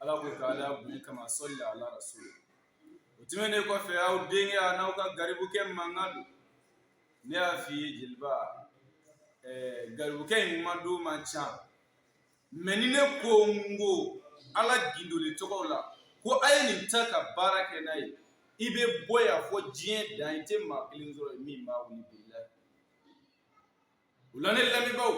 ala ko ka ala bonya kama sɔli la ala rasul o tɛmɛnen kɔfɛ aw denkɛ an'aw ka garibukɛ mankan don ne y'a f'i ye jeliba ɛɛ garibukɛ in ma dɔn man ca mɛ ni ne ko n ko ala gindoli tɔgɔw la ko a ye nin ta ka baara kɛ n'a ye i bɛ bɔ yan fɔ diɲɛ dan i tɛ maa kelen sɔrɔ min b'a wuli o la ne lamɛnbagaw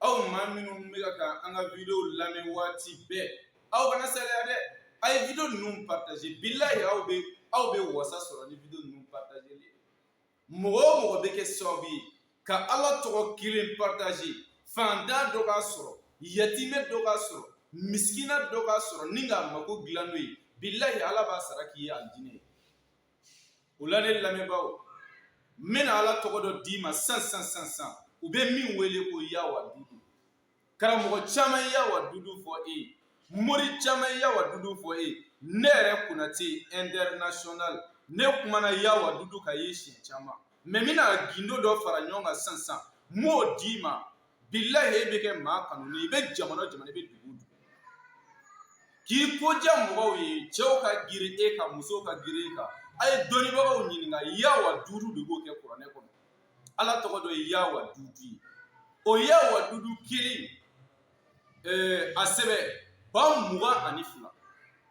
aw maa minnu bɛ ka an ka video lamɛn waati bɛɛ aw kana saliya dɛ a ye video ninnu partager bilahi aw bɛ aw bɛ wasa sɔrɔ ni video ninnu partagerli mɔgɔ o mɔgɔ bɛ kɛ sababu ye ka Ala tɔgɔ kelen partager fantan dɔ k'a sɔrɔ yatimɛ dɔ k'a sɔrɔ misikina dɔ k'a sɔrɔ nin k'a mako dilan n'o ye bilahi Ala b'a sara k'i ye alijinɛ. o la ne lamɛnbaaw n bɛna ala tɔgɔ dɔ d'i ma san san san san u bɛ min wele ko yawa dudu karamɔgɔ caman ye yawa dudu fɔ e ye mori caman ye yawa dudu fɔ e ye ne yɛrɛ konate international ne kumana yawa dudu kan ye siɲɛ caman mɛ n bɛna gindo dɔ fara ɲɔgɔn kan san san n b'o d'i ma bilahi e bɛ kɛ maa kanunen i bɛ jamana jamana i bɛ dugu dugu k'i ko diya mɔgɔw ye cɛw ka girin e kan musow ka girin e kan a ye dɔnnibagaw ɲininka yawa dudu de b'o kɛ kuranɛ kɔnɔ ala tɔgɔ dɔ ye yawa dudu ye o yawa dudu kelen a sɛbɛn ba mugan ani fila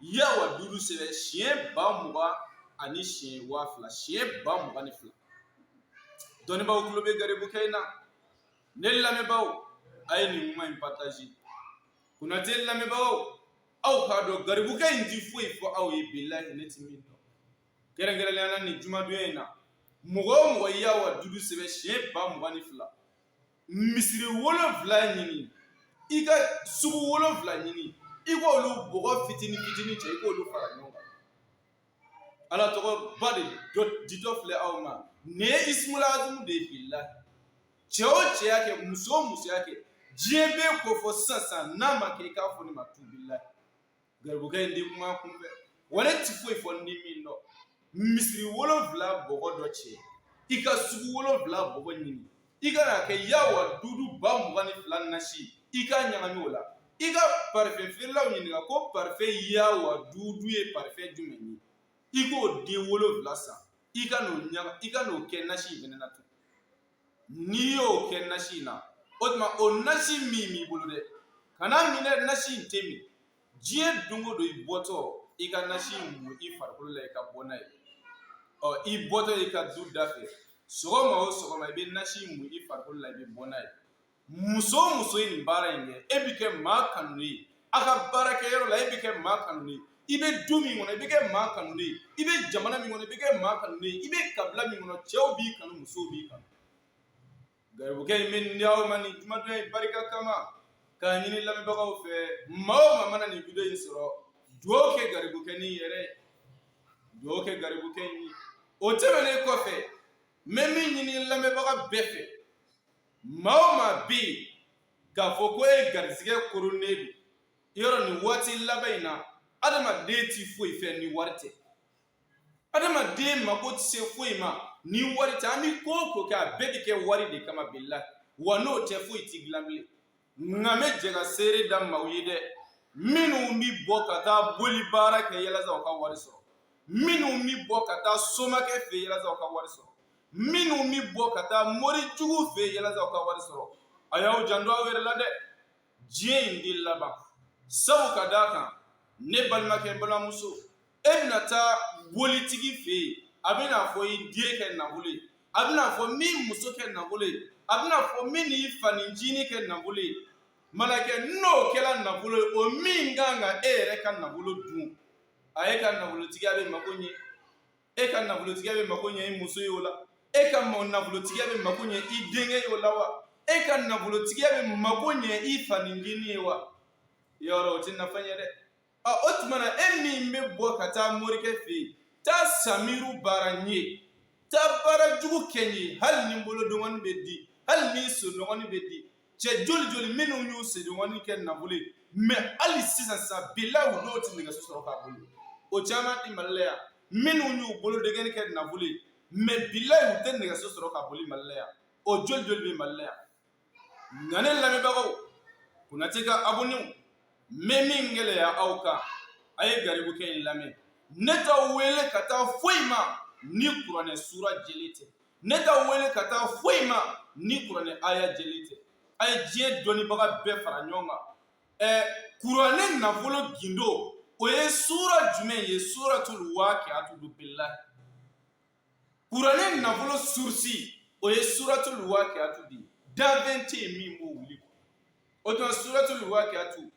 yawa dudu sɛbɛn siɲɛ ba mugan ani siɲɛ waa fila siɲɛ ba mugan ni fila dɔnnibaa tulo bɛ garibukɛ in na Ne lamɛnbaaw a ye nin kuma in partager Konate lamɛnbagaw aw k'a dɔn garibukɛ in tɛ foyi fɔ aw ye bilahi ne tɛ min dɔn kɛrɛnkɛrɛnnenya la nin jumadon in na mɔgɔ o mɔgɔ ye yawa dudu sɛbɛn siɲɛ ba mugan ni fila misiri wolonwula ɲini i ka sugu wolonwula ɲini i k'olu bɔgɔ fitini fitini cɛ i k'olu fara ɲɔgɔn kan ala tɔgɔ ba de ditɔ filɛ aw ma nin ye ismul azamu de ye bilahi cɛ o cɛ y'a kɛ muso o muso y'a kɛ diɲɛ b'e ko fɔ sisan sisan n'a ma kɛ i k'a fɔ ne ma tu bilahi garibukɛ in ti kuma kunfɛ wa ne ti foyi fɔ n ti min dɔn misiri wolonwula bɔgɔ dɔ cɛ i ka sugu wolonwula bɔgɔ ɲini i ka n'a kɛ yawa dudu ba mugan ni fila nasi i k'a ɲagami o la i ka parfɛn feerelaw ɲininka ko parfɛn yawa dudu ye parfɛn jumɛn ye i k'o den wolonwula san i ka n'o ɲaga i ka n'o kɛ nasi in fɛnɛ na tun n'i y'o kɛ nasi in na o tuma o nasi min b'i bolo dɛ kan'a min dɛ nasi in tɛ min diɲɛ don o don i bɔtɔ i ka nasi mu i farikolo la i ka bɔ n'a ye ɔ i bɔtɔ i ka du da fɛ sɔgɔma o sɔgɔma i bɛ nasi mu i farikolo la i bɛ bɔ n'a ye muso o muso ye nin baara in kɛ e bɛ kɛ maa kanulen ye a ka baarakɛyɔrɔ la e bɛ kɛ maa kanulen ye i bɛ du min kɔnɔ i bɛ kɛ maa kanulen ye i bɛ jamana min kɔnɔ i bɛ kɛ maa kanulen ye i bɛ kabila min kɔnɔ cɛw b'i kanu musow b'i kanu garibukɛ in bɛ ni aw ma nin jumadon in barika kama k'a ɲini lamɛnbagaw fɛ maa o maa mana nin wideyo in sɔrɔ dugawu kɛ garibukɛ ni yɛrɛ dugawu kɛ garibukɛ in ye o tɛmɛnen kɔfɛ n bɛ min ɲini lamɛnbaga bɛɛ fɛ maa o maa bɛ yen k'a fɔ ko e garisigɛ koronnen don yɔrɔ nin waati laban in na adamaden t'i foyi fɛ ni wari tɛ adamaden mako tɛ se foyi ma ni wari tɛ an bɛ ko o ko kɛ a bɛɛ bɛ kɛ wari de kama bilahi wa n'o tɛ foyi tɛ dilan bilen nka n bɛ jɛ ka seere da maaw ye dɛ minnu bɛ bɔ ka taa boli baara kɛ yalasa u ka wari sɔrɔ minnu bɛ bɔ ka taa somakɛ fɛ yalasa u ka wari sɔrɔ minnu bɛ bɔ ka taa mori jugu fɛ yalasa u ka wari sɔrɔ a y'aw janto aw yɛrɛ la dɛ diɲɛ in de laban sabu ka d'a kan ne balimakɛ balimamuso e bɛna taa bolitigi fɛ yen a bɛna fɔ i den kɛ nafolo ye a bɛna fɔ i m'i muso kɛ nafolo ye a bɛna fɔ min ni fanincinin kɛ nafolo ye n balimakɛ n'o kɛra nafolo ye o min kan ka e yɛrɛ ka nafolo dun a e ka nafolotigiya bɛ mako ɲɛ e ka nafolotigiya bɛ mako ɲɛ i muso ye o la e ka nafolotigiya bɛ mako ɲɛ i denkɛ ye o la wa e ka nafolotigiya bɛ mako ɲɛ i fanincinin ye wa yɔrɔ o tɛ nafa ɲɛ dɛ ɔ o tuma na e min bɛ bɔ ka taa morikɛ fɛ yen taa samiru baara n ye taa baara jugu kɛ n ye hali ni n bolo dɔgɔnin bɛ di hali ni sen dɔgɔnin bɛ di cɛ joli joli minnu y'u sen dɔgɔnin kɛ nafolo ye mɛ hali sisan sa bilahi u dɔ tɛ nɛgɛso sɔrɔ k'a boli o caman bɛ mali la yan minnu y'u bolo dɔgɔnin kɛ nafolo ye mɛ bilahi u tɛ nɛgɛso sɔrɔ k'a boli mali la yan o joli joli bɛ mali la yan nka ne lamɛnbagaw konatɛ ka abɔnew n bɛ min gɛlɛya aw kan a ye garibukɛ in lamɛn ne t'aw wele ka taa foyi ma ni kuranɛ sura jɛlen tɛ ne t'aw wele ka taa foyi ma ni kuranɛ aya jɛlen tɛ a ye diɲɛ dɔnnibaga bɛɛ fara ɲɔgɔn kan ɛ kuranɛ nafolo gindo o ye sura jumɛn ye suratulu wakiyatu bilahi kuranɛ nafolo surusi o ye suratul waqiatu de ye danfɛn tɛ yen min b'o wuli o tuma suratul waqiatu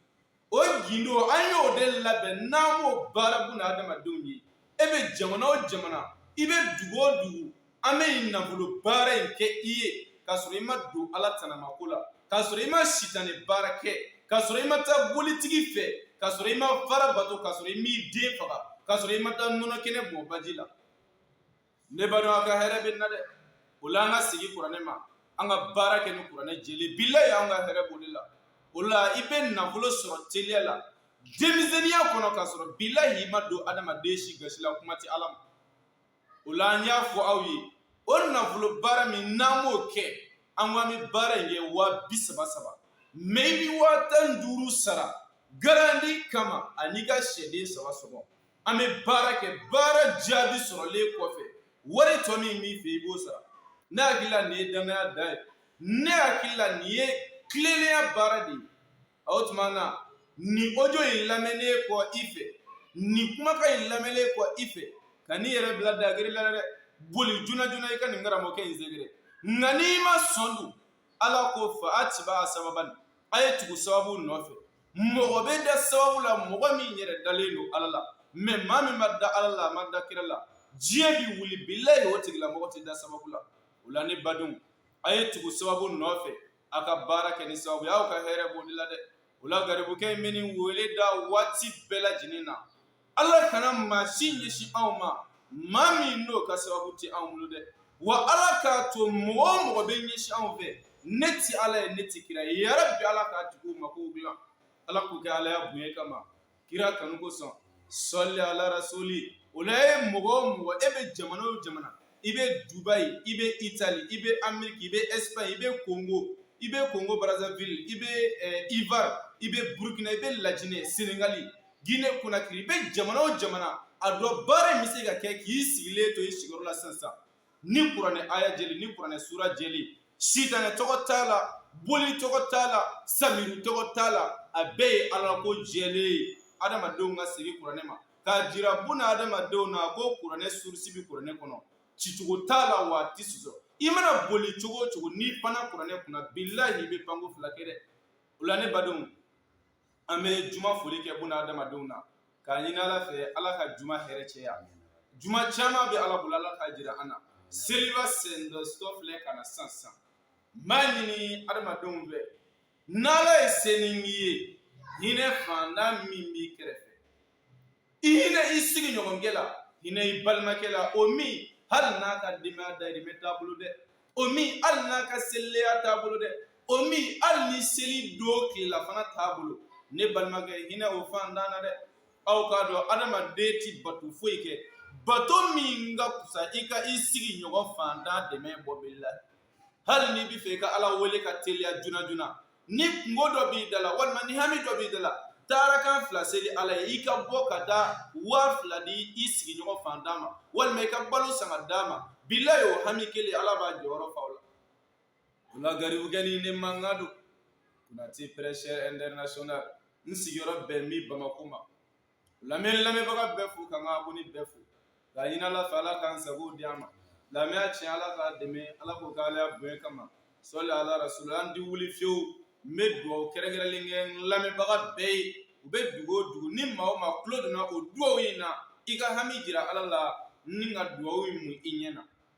o gindo an y'o de labɛn n'an b'o baara buna adamadenw ye e bɛ jamana o jamana i bɛ dugu o dugu an bɛ nin nafolo baara in kɛ i ye k'a sɔrɔ i ma don ala tanamako la k'a sɔrɔ i ma sitanɛ baara kɛ k'a sɔrɔ i ma taa bolitigi fɛ k'a sɔrɔ i ma fara bato k'a sɔrɔ i m'i den faga k'a sɔrɔ i ma taa nɔnɔ kɛnɛ bɔn baji la ne baden a ka hɛrɛ bɛ na dɛ o la an ka segin kuranɛ ma an ka baara kɛ ni kuranɛ jɛlen bilahi an ka hɛrɛ b'o de la o la i bɛ nafolo sɔrɔ teliya la denmisɛnninya kɔnɔ k'a sɔrɔ bilahi i ma don adamaden si gasi la kuma tɛ ala ma o la an y'a fɔ aw ye o nafolo baara min n'an b'o kɛ an ko an bɛ baara in kɛ waa bi saba saba mɛ i bɛ waa tan duuru sara garandi kama ani ka sɛden saba sɔngɔ an bɛ baara kɛ baara jaabi sɔrɔlen kɔfɛ wari tɔ min b'i fɛ i b'o sara ne hakili la nin ye dannaya da ye ne hakili la nin ye tilennenya baara de ye a o tuma na nin ojo in lamɛnnen kɔ i fɛ nin kumakan in lamɛnnen kɔ i fɛ kan'i yɛrɛ bila dagiri la dɛ boli joona joona i ka nin karamɔgɔkɛ in sɛgɛrɛ nka n'i ma sɔn dun ala ko fa atiba'a sababan a ye tugu sababu nɔfɛ mɔgɔ bɛ da sababu la mɔgɔ min yɛrɛ dalen don ala la mɛ maa min ma da ala la a ma da kira la diɲɛ bɛ wuli bilahi o tigilamɔgɔ tɛ da sababu la o la ne badenw a ye tugu sababu nɔfɛ a ka baara kɛ ni sababu y'aw ka hɛrɛ b'o de la dɛ o la garibukɛ in bɛ nin wele da waati bɛɛ lajɛlen na ala kana maa si ɲɛsin anw ma maa min n'o ka sababu tɛ anw bolo dɛ wa ala k'a to mɔgɔ o mɔgɔ bɛ ɲɛsin anw fɛ ne tɛ ala ye ne tɛ kira ye yarabi ala k'a tigi mako dilan ala k'o kɛ alaya bonya kama kira kanu kosɔn sɔli ala rasulilahi mɔgɔ o mɔgɔ e bɛ jamana o jamana i bɛ dubayi i bɛ itali i bɛ ameriki i bɛ espagne i bɛ kongo i bɛ kongo brazzaville i bɛ eh, ivoire i bɛ burkina i bɛ lajinɛ senegali Guinée Conakry i bɛ jamana o jamana a dɔn baara in bɛ se ka kɛ k'i sigilen to i sigiyɔrɔ la sisan ni kuranɛ aya jɛlen ni kuranɛ sura jɛlen sitanɛ tɔgɔ t'a la boli tɔgɔ t'a la samiru tɔgɔ t'a la a bɛɛ ye ala ko jɛlen ye adamadenw ka segin kuranɛ ma k'a jira buna adamadenw na ko kuranɛ surusi bɛ kuranɛ kɔnɔ cicogo t'a la wa a tɛ sɔsɔ i mana boli cogo o cogo n'i panna kuranɛ kunna bilahi i bɛ panko fila kɛ dɛ o la ne badenw an bɛ juma foli kɛ buna adamadenw na k'a ɲini ala fɛ ala ka juma hɛrɛ cɛya juma caman bɛ ala bolo ala k'a jira an na seliba sendɔsɔ filɛ ka na sisan n b'a ɲini adamadenw fɛ n'ala ye seningi ye hinɛ fantan min b'i kɛrɛfɛ i hinɛ i sigi ɲɔgɔnkɛ la hinɛ i balimakɛ la o min hali n'a ka denbaya dahirimɛ t'a bolo dɛ o min hali n'a ka selileya t'a bolo dɛ o min hali ni seli don tilelafana t'a bolo ne balimakɛ hinɛ o fantan na dɛ aw k'a dɔn adamaden tɛ bato foyi kɛ bato min ka fisa i ka i sigi ɲɔgɔn fantan dɛmɛ bɔ b'i la hali n'i b'a fɛ i ka ala wele ka teliya joona joona ni kunko dɔ b'i da la walima ni hami dɔ b'i da la taa rakan fila seli ala ye i ka bɔ ka taa waa fila di i sigiɲɔgɔn fantan ma walima i ka balo san ka d'a ma bilayi o hami kelen ala b'a jɔyɔrɔ fa o la ala garibukɛnin ne mamadu konate prêcheur international n sigiyɔrɔ bɛn min bamakɔ ma lamɛn lamɛnbaga bɛɛ fo ka n ka abɔne bɛɛ fo k'a ɲini ala fɛ ala k'an sago di an ma lamɛnya tiɲɛ ala k'a dɛmɛ ala k'o k'ale bonya kama sɔli ala rasula n tɛ wuli fiyewu n bɛ dugawu kɛrɛnkɛrɛnlen kɛ lamɛnbaga bɛɛ ye u bɛ dugu o dugu ni maa o maa tulo donna o dugawu in na i ka hami jira ala la ni ka dugawu in mun i ɲɛ na